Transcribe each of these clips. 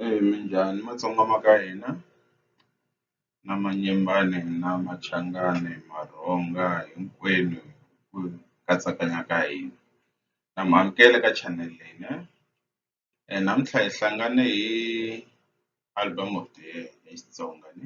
Eya minjhani matsonga ma ka hina na manyembane na machangani marhonga hinkwenu ku katsakanya ka hina na mi amukela ka channel leyi ne namuntlha hi hlangane hi album of the year hi Xitsonga ne.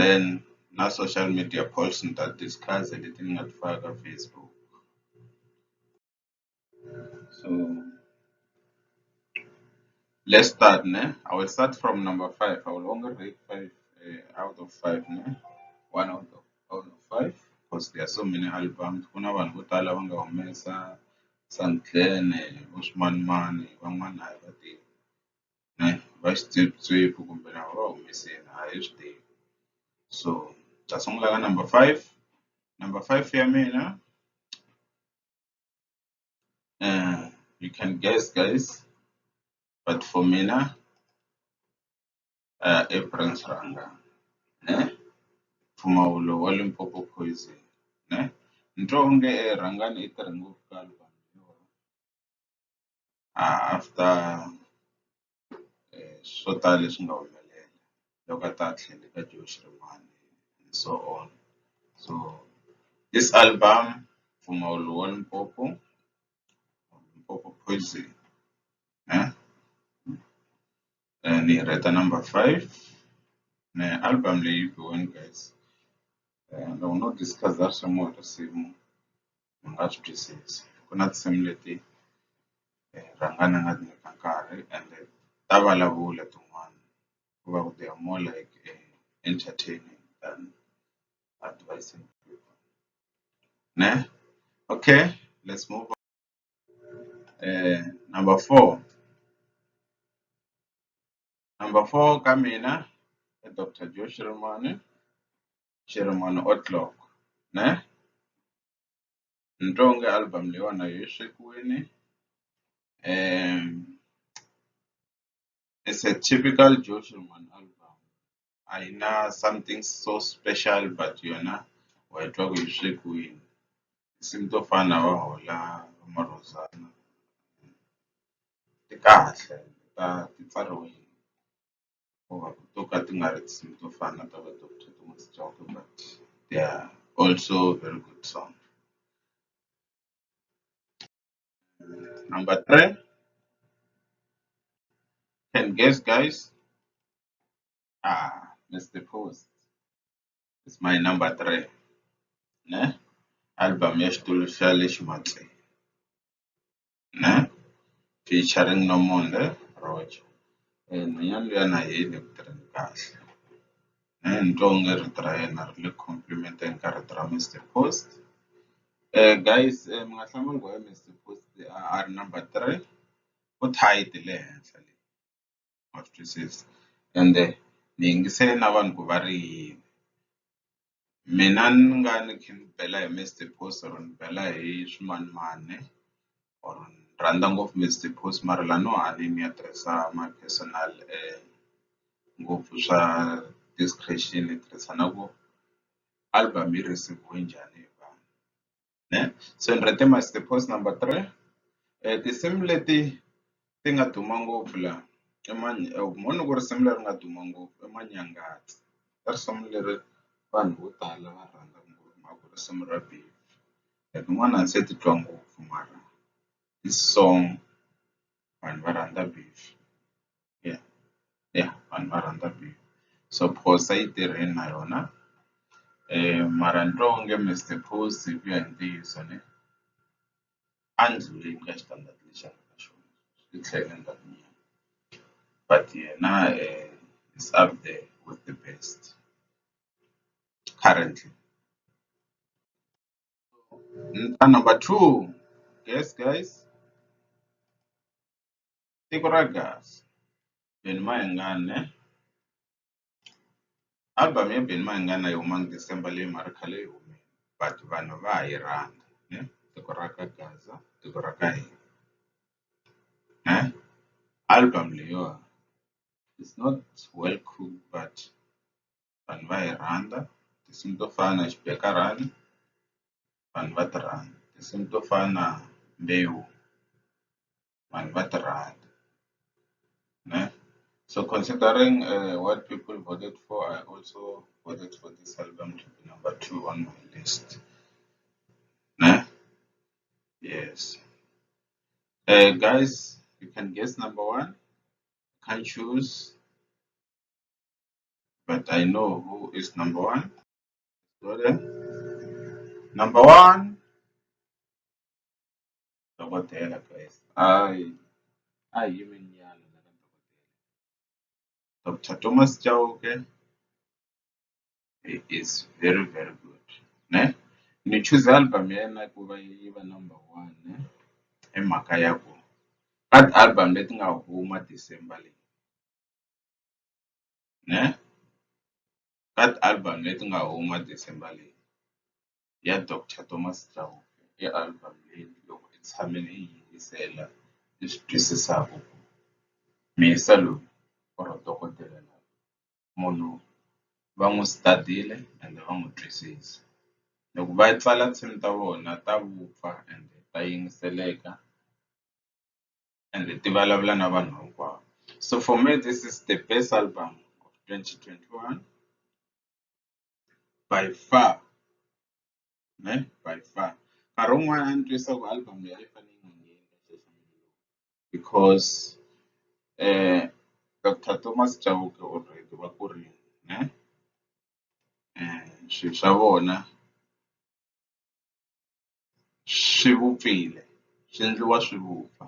then na social media posts ni ta discuss leti ni nga ti faka ka Facebook so let's start ne I will start from number five I will only read five uh, out of five ne one out of out of five because there are so many albums ku na vanhu vo tala va nga humesa Santlene vo Swimanimani van'wana a hi va tivi va swipyipyiphi kumbe lava va humesile a hi swi tivi so hi ta sungula ka number five number five ya mina you can guess guys but for mina uh, i Prince Ranga ne mpfumawulo wa Limpopo poison ne ni twa onge rhangani i tirhe ngopfu ka after swo tala leswi nga humelela loko a ta a tlhela eka Joburg xin'wana and so on so this album mpfumawulo wa Limpopo Limpopo poison ni yi rheta number five na album leyi biwini guys loko no discuss-a swa risimu. ni nga swi twisisa ku na tinsimu leti rhanga ni nga ti nyika nkarhi ende ta vulavula tin'wana ku va ku there more like entertainment than advising people ne okay let's move on number four number four ka mina i doctor Joe Shirimani xi ri one o'clock ne ni twa onge album leyiwani a yi we swekiwini it's a typical Joe Shillman album a yi na something so special but yona wa yi twa ku yi swekiwini tinsimu to fana na va hola va marhozana ti kahle ta ti pfariwile. or to ka ti nga ri tinsimu to fana na ta va Doctor Thomas Chauke but they are also very good song number three can guess guys ah Mr. Post is my number three ne album ya xitulu xa le Ximatse Picha ri ni nomuntlha ri approach nhwanyana luya na yena eku tirheni kahle ni twa onge rito ra yena ri le compliment-eni ka rito ra Mister Post guys mi nga hlamali ku why Mister Post a ri number three u tight le henhla le. wa swi twisisa ende ni yingisele na vanhu ku va ri yini mina ni nga ni kha ni bela hi Mister Boss or ni bela hi swimanimani or ni rhandza ngopfu Mister Boss mara la no hanya ni ya tirhisa my personal ngopfu swa discretion ni tirhisa na ku album yi receive-we njhani hi vanhu. ne so ni rhete my the post number three um tinsimu leti ti nga duma ngopfu laha i mhani ku risimu leri nga duma ngopfu i manyangatsi i risimu leri vanhu vo tala va rhandzaka ngopfu mhaka ku risimu ra biha tin'wana a ni se titwa ngopfu mara i song. vanhu va rhandza beef ya ya vanhu va rhandza beef so phosa yi tirheni na yona mara ni twa onge Mister Post hi ku ya hi ntiyiso ni a ni ndluleli ka xitandati lexi a nga ka xona ni tlhela ni nga vi na yena but yena is up there with the best currently. Nta number two. Guys, guys. Tiko ra gas. Beni Mayengane. Album ya Beni Mayengane yi huma December leyi mara khale yi humile. But vanhu va ha yi rhandza. Ne? Tiko ra ka Gaza, tiko ra ka hina. Ne? Album leyiwa. It's not well cooked but vanhu va hi rhandza tinsimu to fana na xibekarhani vanhu va ti rhandza tinsimu to fana na mbewu vanhu va ti rhandza ne so considering uh, what people voted for i also voted for this album to be number two on my list ne yes uh, guys you can guess number one can't choose but I know who is number one. Go there. Number one, Dokotela guys. I, I human yalo na Dokotela. Dr. Thomas Chauke he is very very good. Ne? Ni choose album yena ku va yi va number one ne? Hi mhaka ya ku ka album leti nga huma December leyi ne ka ti-album leti nga huma December leyi ya Doctor Thomas Chauke i album leyi loko hi tshame hi yi yingisela hi swi twisisaku ku Muyisa loyi or dokodela la munhu va n'wu study-le ende va n'wu twisisa loko va tsala nsimu ta vona ta vupfa ende ta yingiseleka. ende ti vulavula na vanhu hinkwavo so for me this is the best album of 2021 by far ne by far nkarhi wun'wana a ni twisa ku album leyi a yi fanele yi nga ngheni because eh Dr Thomas Chauke already va kurile ne eh swilo swa vona swi vupfile swi endliwa swi vupfa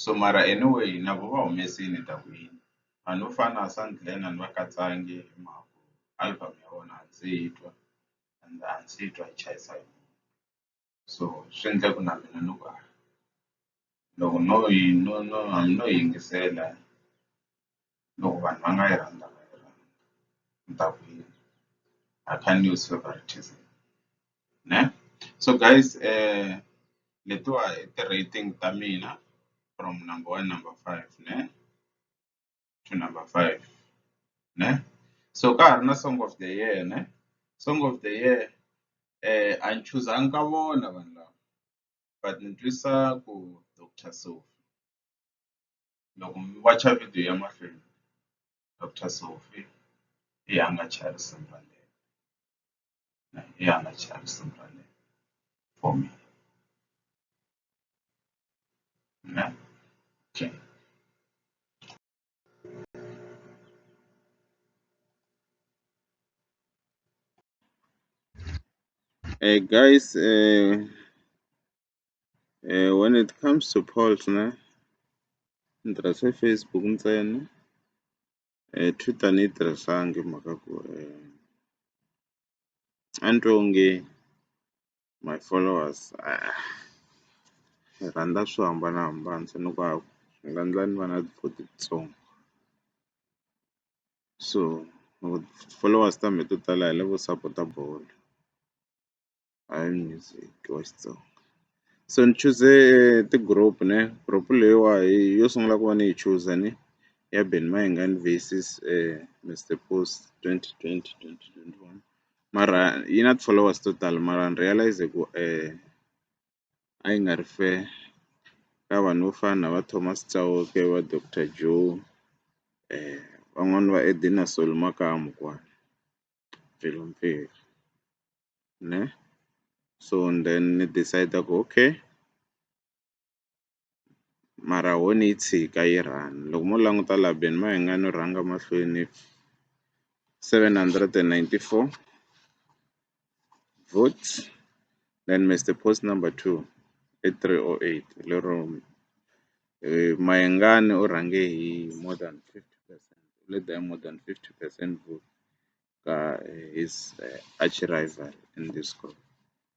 so mara anyway na vo va humesile ni ta ku yini vanhu vo fana na va Sandglen a ni va katsangi hi mhaka ku album ya vona a ndzi se yi twa and a ndzi se yi twa yi chayisa so swi endle ku na mina ni ku a. loko no yi no no hambi no yingisela loko vanhu va nga yi rhandza va yi rhandza ni ta ku yini I can't use favoritism ne so guys eh letiwa i ti-rating ta mina from number one number five ne to number five ne so ka ha ri na song of the year ne song of the year eh a ni chuzanga ka vona vanhu lava but ni twisa ku doctor Sophie loko mi wacha video ya mahlweni doctor Sophie i ya nga Charles Mbhalelo i ya nga Charles Mbhalelo for me ne okay Hey guys, uh, uh, when it comes to polls, ne, ni tirhise Facebook ntsena. Uh, Twitter ni yi tirhisangi hi mhaka ku uh, a ni twi onge my followers ah hi rhandza swo hambanahambana se ni ku hava swi nga endla ni va na ti-forty ntsongo so loko ti-followers ta me to tala hi lavo sapota bolo hayi music wa Xitsonga so ni chuze ti-group ne group leyiwa hi yo sungula ku va ni yi chuza ni ya Benny Mayengani versus Mister Post twenty twenty twenty twenty one. mara yi na ti-followers to tala mara ni realize ku a yi nga ri fair ka vanhu vo fana na va Thomas Chauke va Doctor Joe van'wani va Edina Soli makamu kwala Mpelumpfilu ne so then ni decide ku okay. mara ho ni yi tshika yi run loko mo languta laha beni ma hina no rhanga mahlweni seven hundred and ninety four votes then Mister post number two i three o eight lero Mayengani u rhange hi more than fifty percent u lete hi more than fifty percent vote ka his arch rival in this group.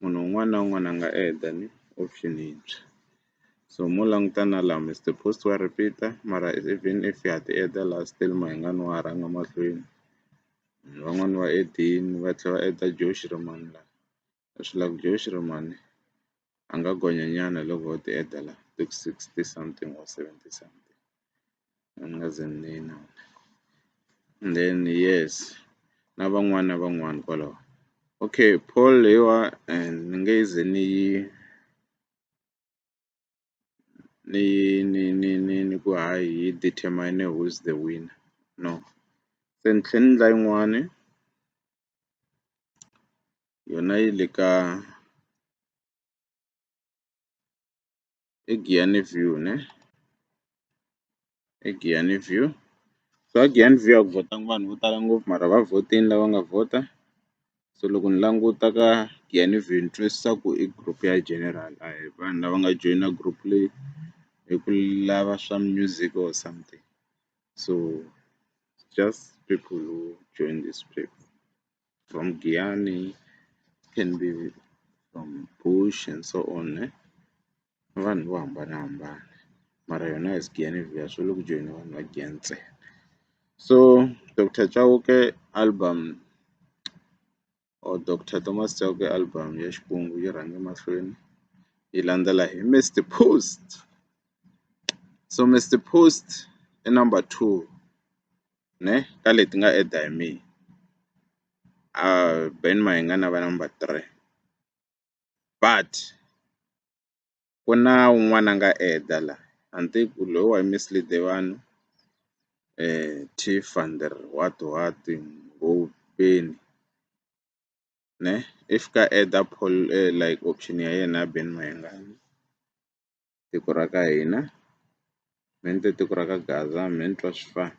munhu un'wana na un'wana a nga add-a ni option yintshwa so mo languta na laha mi the post wa repeat-a mara even if ha ti add-a laha still Mahingani wa ha rhanga mahlweni van'wani va add-ini va tlhela va add-a Josh Rimani la a swi la ku Josh Rimani a nga gonya nyana loko ho ti add-a la ti ku sixty something or seventy something. then yes na van'wana na van'wana kwalaho okay poll leyiwa and ni nge ze ni yi ni ni ni ni ni ku hayi yi determine who is the winner no se ni tlhe ni endla yin'wani yona yi le ka egiyani view ne egiyani view so a giyani view a ku vhotanga vanhu vo tala ngopfu mara va vhotini lava nga vhota so loko ni languta ka giyani view ni twisisa ku i group ya general a hi vanhu lava nga joyina group leyi hi ku lava swa music or something so just people who join this group. from Giyani, can be from Bush and so on eh? vanhu vo hambanahambana mara yona as Giyani Villa swi le ku joyina vanhu va Giyani ntsena so Dr Chauke album or Dr Thomas Chauke album ya Xikwembu yi rhange mahlweni yi landzela hi Mister Post so Mister Post i number two ne ka leti nga add-a hi mehe a Ben Mayengani na va number three but ku na un'wana a nga add-a la a ni tivi ku loyi wa mislead-e vanhu what what Ngobeni ne if ka add-a like option ya yena ya Ben Mayengani. tiko ra ka hina me ni te tiko ra ka Gaza me ni twa swi fana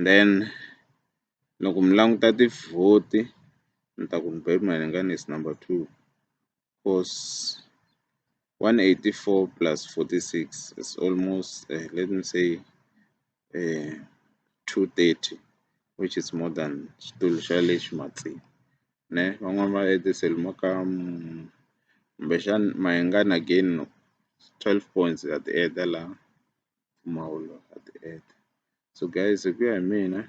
then loko mi languta tivhoti ni ta ku ni bebe Malinga is number two cause 184 plus 46 is almost uh, let me say eh, 230 which is more than xitulu xa le ximatsini ne van'wani va etisele mo ka mm, kumbexani mayengani again no 12 points at the end la mpfumawulo at the end so guys hi ku ya hi mina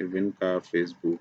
even ka facebook